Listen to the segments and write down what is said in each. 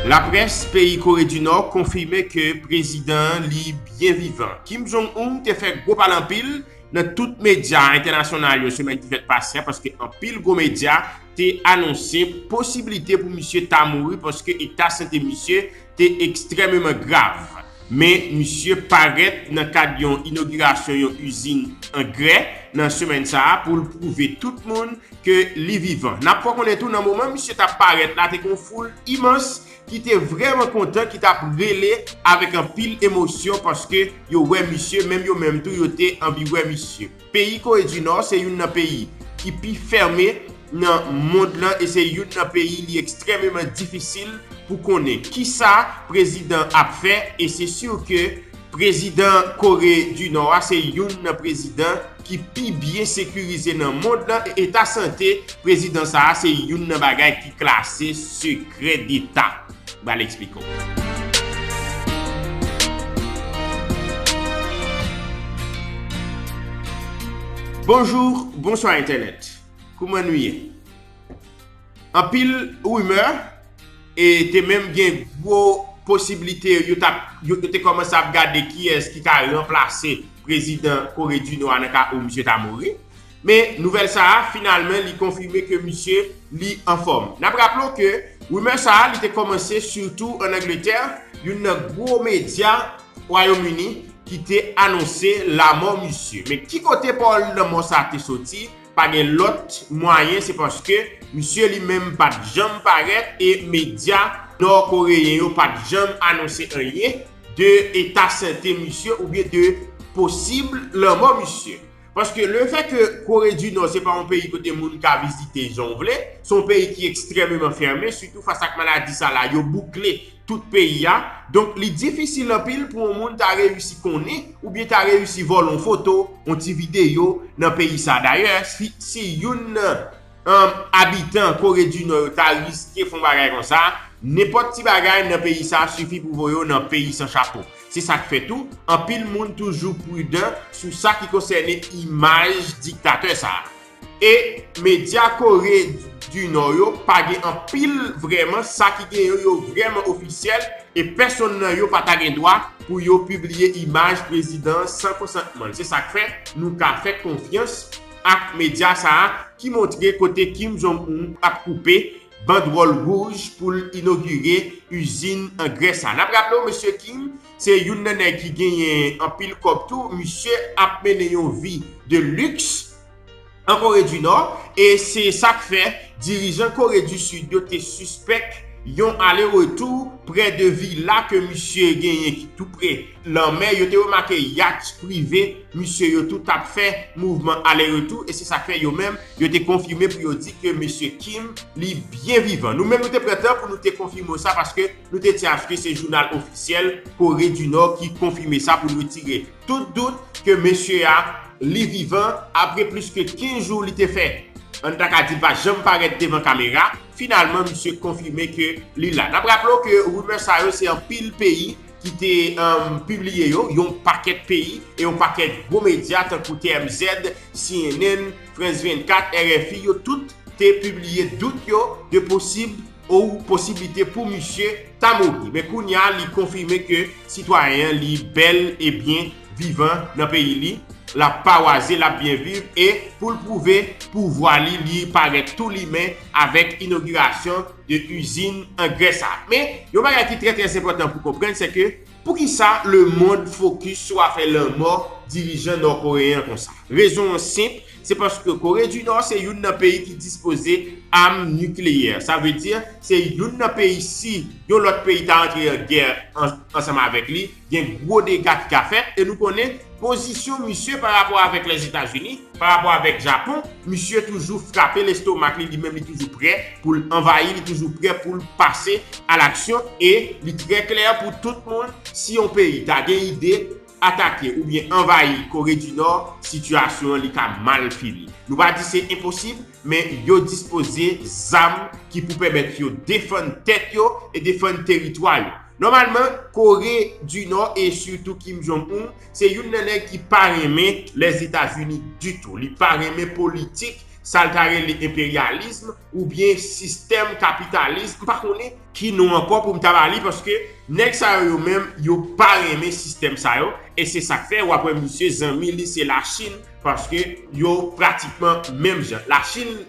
Laprès peyi Kore di Nò konfime ke prezidan an li byen vivan. Kim Jong Un te fè gwo pale anpil nan tout medya entènasyonal yo semèn ki fèt pase a paske anpil gwo medya te anonse posibilite pou misye ta mouri paske eta sante misye te ekstrèmeman grav, men misye parèt nan kad yon inogirasyon yon izin angrè nan semèn sa a pou l pwouve tout moun ke li vivan. N ap fè w konnen tou nan moman misye t ap parèt la te gen yon foul imans ki te vrèman kontan ki t ap rele avèk anpil emosyon paske yo wè misye menm yo menm tou yo te anvi wè misye. Peyi Kore di Nò se youn nan peyi ki pi fèmen nan mond lan e se youn nan peyi li ekstrèmeman difisil pou konnen kisa prezidan ap fè e se sur ke prezidan Kore di Nò a se youn nan prezidan ki pi byen sekirize nan mond lan e eta sante prezidan sa a se youn nan bagay ki klase sekrè deta. bal esplike w. Bonjour bonswa entènèt kouman nou ye anpil rumè e te menm gen gwo posiblite yo tap yo te kòmanse ap gade kiyès ki ka ranplase prezidan kore di nò a nan ka ou misye ta mouri Men nouvèl sa a finalmen li konfime ke misye li anfòm. N ap raple w ke rumeur sa a li te kòmanse sitou an Angletè, youn nan gwo medya Wayom Ini ki te anonse lamò misye. Men ki kote pawòl lanmò sa a te soti, pa gen lòt mwayen se paske misye li menm pa t janm parèt e medya nò koreyen yo pa t janm anonse anyen de eta sante misye oubyen de posib lanmò misye. Paske le fè ke Kore di Nò se pa yon peyi kote moun ka vizite jan w vle, se yon peyi ki ekstrèmeman fèmen, sitou fas ak maladi sa la, yo boukle tout peyi a. Donk li difisil anpil pou yon moun ta reyisi konnen oubyen ta reyisi vòlò yon foto, yon ti videyo nan peyi sa. Dayè, si youn nan. Humm abitan kore du nò yo ta riske fon bagay konsa, nenpòt ti bagay nan peyi sa sifi pou voye w nan peyi san chapo. Se sak fè tou, anpil moun toujou prudan sou sa ki konsène imaj diktatè sa. E medya kore du nò yo pa gen anpil vrèman sa ki gen yo yo vrèman ofisyèl e pèsonn nan yo pa ta gen dwa pou yo pibliye imaj prezidan an san konsantman l. Se sak fè nou ka fè konfyans. ak medya sa a ki montre kote Kim Jong Un ap koupe bandwòl wouj pou l inogire izin angrè sa. N ap raple w mesye Kim se youn nan nèg ki genyen anpil kòb tou, misye ap mennen yon vi de liks an Kore di Nò e se sa k fè dirijan Kore di Sid yo te sispèk yon ale retou prè de vila ke misye genyen ki tou pre lanmè, yo te remake yacht prive misye yo tou t ap fè mouvman ale retou e se sa k fè yo menm yo te konfime pou yo di ke mesye Kim li byen vivan. Nou menm nou te pran tan pou nou te konfime w sa paske nou te di aske se jounal ofisyèl Kore di Nò ki konfime sa pou l retire tout dout ke mesye a li vivan apre plis ke 15 jou li te fè ann ta ka di l pa janm parèt devan kamera. Finalman misye konfime ke li la. N ap raple w ke rumè sa yo se anpil peyi ki te pibliye yo, yon pakèt peyi e yon pakèt gwo medya tankou TMZ, cnn, France 24, rfi yo tout te pibliye dout yo de posib ou posiblite pou misye ta mouri. Men kounya li konfime ke sitwayen an li bèl e byen vivan nan peyi li, lap pawaze, lap byen viv e pou l pwouve pouvwa li, li parèt tou limen avèk inogirasyon de cuisine an Grès la. Men, yon bagay ki trè trè enpòtan pou konprann se ke poukisa lemond fokis sou afè lanmò dirijan nò-koreyen an konsa? Rezon an senp, se paske Kore di Nò se youn nan peyi ki dispoze am nikleyè. Sa vle di, se youn nan peyi si yon lòt peyi ta antre an gè ansanm avèk li, gen gwo dega ki ka fèt e nou konnen pozisyon misye pa rapò avèk Lèzetazini, pa rapò avèk Japon, misye toujou frape lestomak li, li menm li toujou prè pou l anvayi, li toujou prè pou l pase a laksyon e li trè klè pou tout moun si yon peyi ta gen ide atake oubyen anvayi Kore di Nò, sitiyasyon an li ka mal fini. Nou pa di se enposib, Men yo dispoze zam ki pou pèmèt yo defann tèt yo e defann teritwa yo. Nòmalman, Kore di Nò e sitou Kim Jong Un se youn nan nèg ki pa renmen Lèzetazini ditou. Li pa renmen politik, sa l ta rele enperyalism oubyen sistèm kapitalism, m pa konnen, ki non ankò pou m ta ba li paske nèg sa yo yo menm yo pa renmen sistèm sa yo e se sa k fè w ap wè misye zanmi li se Lachin. Paske yo pratikman menm jan. La Chine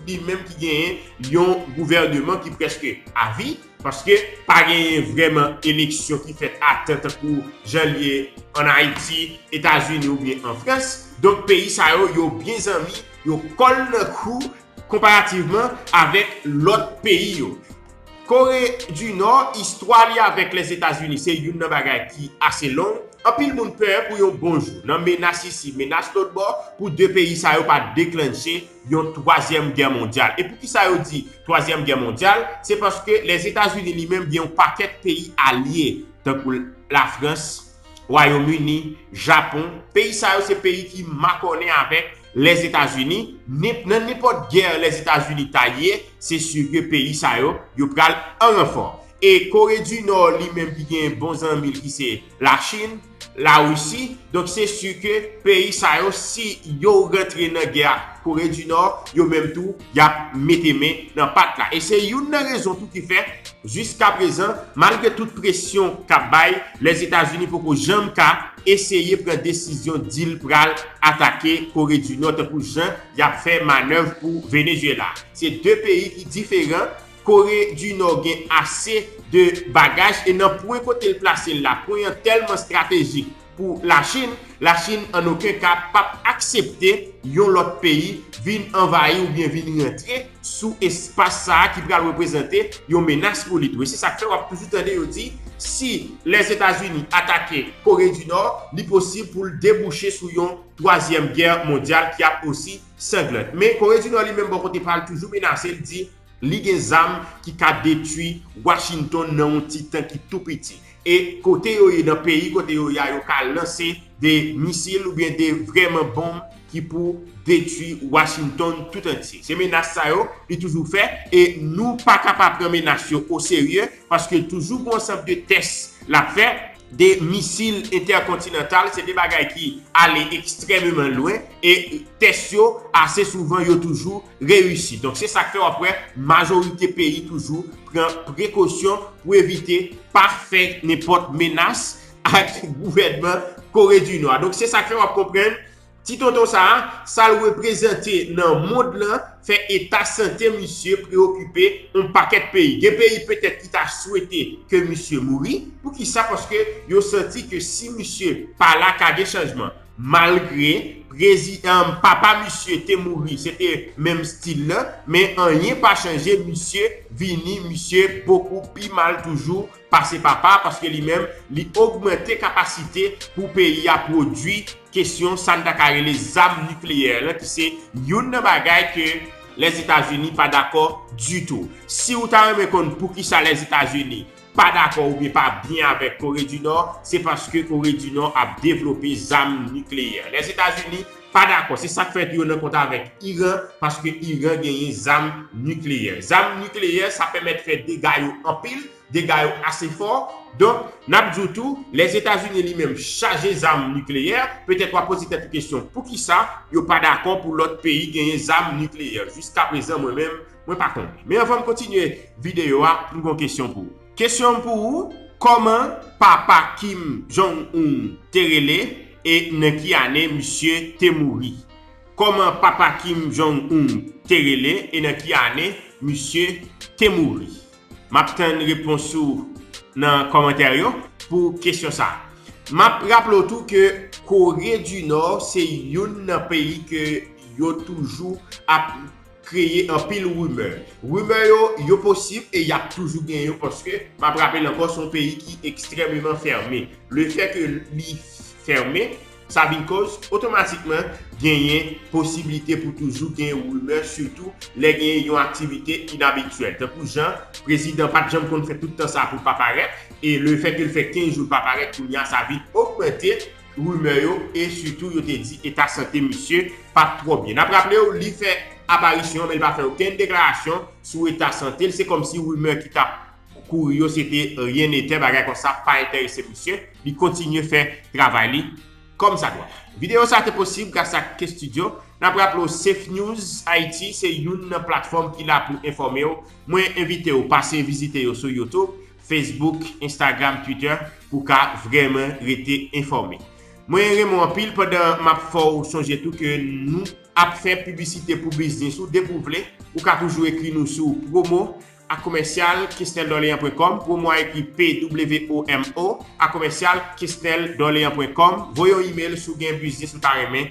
li menm ki genyen yon gouvèneman ki prèske a vi, paske pa genyen vrèman eleksyon ki fèt a tan tankou jan li ye an Ayiti, Etazini oubyen an Frans. Donk peyi sa yo, yo byen zanmi, yo kòl nan kou, Konparativman avèk lòt peyi yo. Kore di Nò, istwa li avèk Lèzetazini se youn nan bagay ki ase long. Anpil moun pè pou yon bon jou, nan menas isi, menas lòtbò, pou 2 peyi sa yo pa deklannche yon twazyèm gè mondyal. E poukisa yo di twazyèm gè mondyal? Se paske Lèzetazini li menm gen yon pakèt peyi alye, tankou Lafrans, Wayom Ini, Japon. Peyi sa yo se peyi ki makònen avèk Lèzetazini, nin nan ninpòt gè Lèzetazini ta ye, se sur ke peyi sa yo, yo pral an ranfò. E Kore di Nò li menm ki genyen bon zanmi l ki se Lachin, Larisi, donk se sur ke peyi sa yo si yo rantre nan gè ak Kore di Nò, yo menm tou y ap mete men nan pat la. E se youn nan rezon tou ki fè, jiskaprezan, malgre tout presyon k ap bay, Lèzetazini poko janm ka eseye pran desizyon di l pral atake Kore di Nò tankou jan y ap fè manèv pou Venezyela. Se de peyi ki diferan, Kore di Nò gen ase de bagaj e nan pwen kote l plase l la, pwen an tèlman estratejik, pou Lachin, Lachin an oken ka pap aksepte yon lòt peyi vin anvayi oubyen vin rantre sou espas sa a ki pral reprezante yon menas pou li tou. Se sa k fè w ap toujou tande yo di si Lèzetazini atake Kore di Nò, li posib pou l debouche sou yon twazyèm gè mondyal ki ap osi sanglant. Men Kore di Nò li menm bò kote pa l toujou menase, l di li gen zam ki ka detui Washington nan yon ti tan ki tou piti. E kote yo ye nan peyi kote yo ye a yo ka lanse de misil oubyen de vrèman bonm ki pou detwi Washington tout antye. Se menas sa yo li toujou fè e nou pa ka pa pran menas yo o serye paske toujou g'on ansanm de tès l'ap fè. De misil entèkontinantal se de bagay ki ale ekstrèmeman lwen e tès yo ase souvan yo toujou reyisi. Donk se sa k fè w ap wè majorite peyi toujou pran prekosyon pou evite pa fè nenpòt menas ak gouvènman Kore di Nò a. Donk se sa k fè w ap konprann ti tonton sa a, sa l reprezante nan mond lan fè eta sante misye preyokipe yon pakèt peyi. Gen peyi petèt ki ta swete ke misye mouri. Poukisa? Paske yo santi ke si misye pa la ka gen chanjman. Malgre prezi papa misye te mouri se te menm stil lan men anyen pa chanje misye vini misye bokou pi mal toujou pase papa paske li menm li ogmante kapasite pou peyi a pwodwi kesyon sa n ta ka rele zam nikleyè lan ki se youn nan bagay ke Lèzetazini pa dakò ditou. Si ou ta renmen konn poukisa Lèzetazini pa dakò oubyen pa byen avèk Kore di Nò, se paske Kore di Nò ap devlope zam nikleyè. Lèzetazini pa dakò, se sa k fè yo nan kont avèk Iran, paske Iran genyen zam nikleyè. Zam nikleyè, sa pèmèt fè dega yo anpil, dega yo ase fò. Donk, n ap di w tou, Lèzetazini li menm chaje zam nikleyè. Petèt w ap poze tèt ou kesyon, poukisa yo pa dakò pou lòt peyi genyen zam nikleyè? Jiskaprezan, mwen menm. Mwen pa konn. Men anvan m kontinye videyo a, m gon kesyon pou ou. Kesyon m pou ou, kòman papa Kim Jong Un te rele e nan ki ane misye te mouri? Kòman papa Kim Jong Un te rele e nan ki ane misye te mouri? M ap tann repons ou nan kòmantè yo pou kesyon sa a. M ap raple w tou ke Kore di Nò se youn nan peyi ke yo toujou ap kreye anpil rimè. Rimè yo, yo posib e y ap toujou gen yo paske m ap rapele ankò se yon peyi ki ekstrèmeman fèmen. Le fè ke li fèmen, sa vin koz otomatikman genyen posiblite pou toujou gen rimè sitou lè gen yon aktivite inabityèl. Tankou jan prezidan pa t janm konn fè tout tan sa pou l pa parèt e le fè ke l fè 15 jou l pa parèt kounya sa vin ogmante Rumeur yo e sitou yo te di eta sante misye pat twò byen. Nap raple w li fè aparisyon men li pa fè okenn deklarasyon sou eta sante l, se kòmsi rumeur ki tap kouri yo se te ryen netè, bagay konsa pa enterese misye, li kontinye fè travay li kòm sa dwa. Videyo sa te posib gras ak K-Studio. Nap raple w Safenews Haiti se youn nan platfòm ki la pou enfòme w, mwen envite w pase vizite yo sou YouTube. Facebook, Instagram, Twitter pou w ka vrèman rete enfòme. Mwen renmen w anpil pandan m ap fè w sonje tou ke nou ap fè piblisite pou biznis ou depi w vle. Ou ka toujou ekri nou sou promo a komèsyal kesneldorleans.com promo a ekri p-w-o-m-o a komèsyal kesneldorleans.com Voye yon imel si w gen biznis ou ta renmen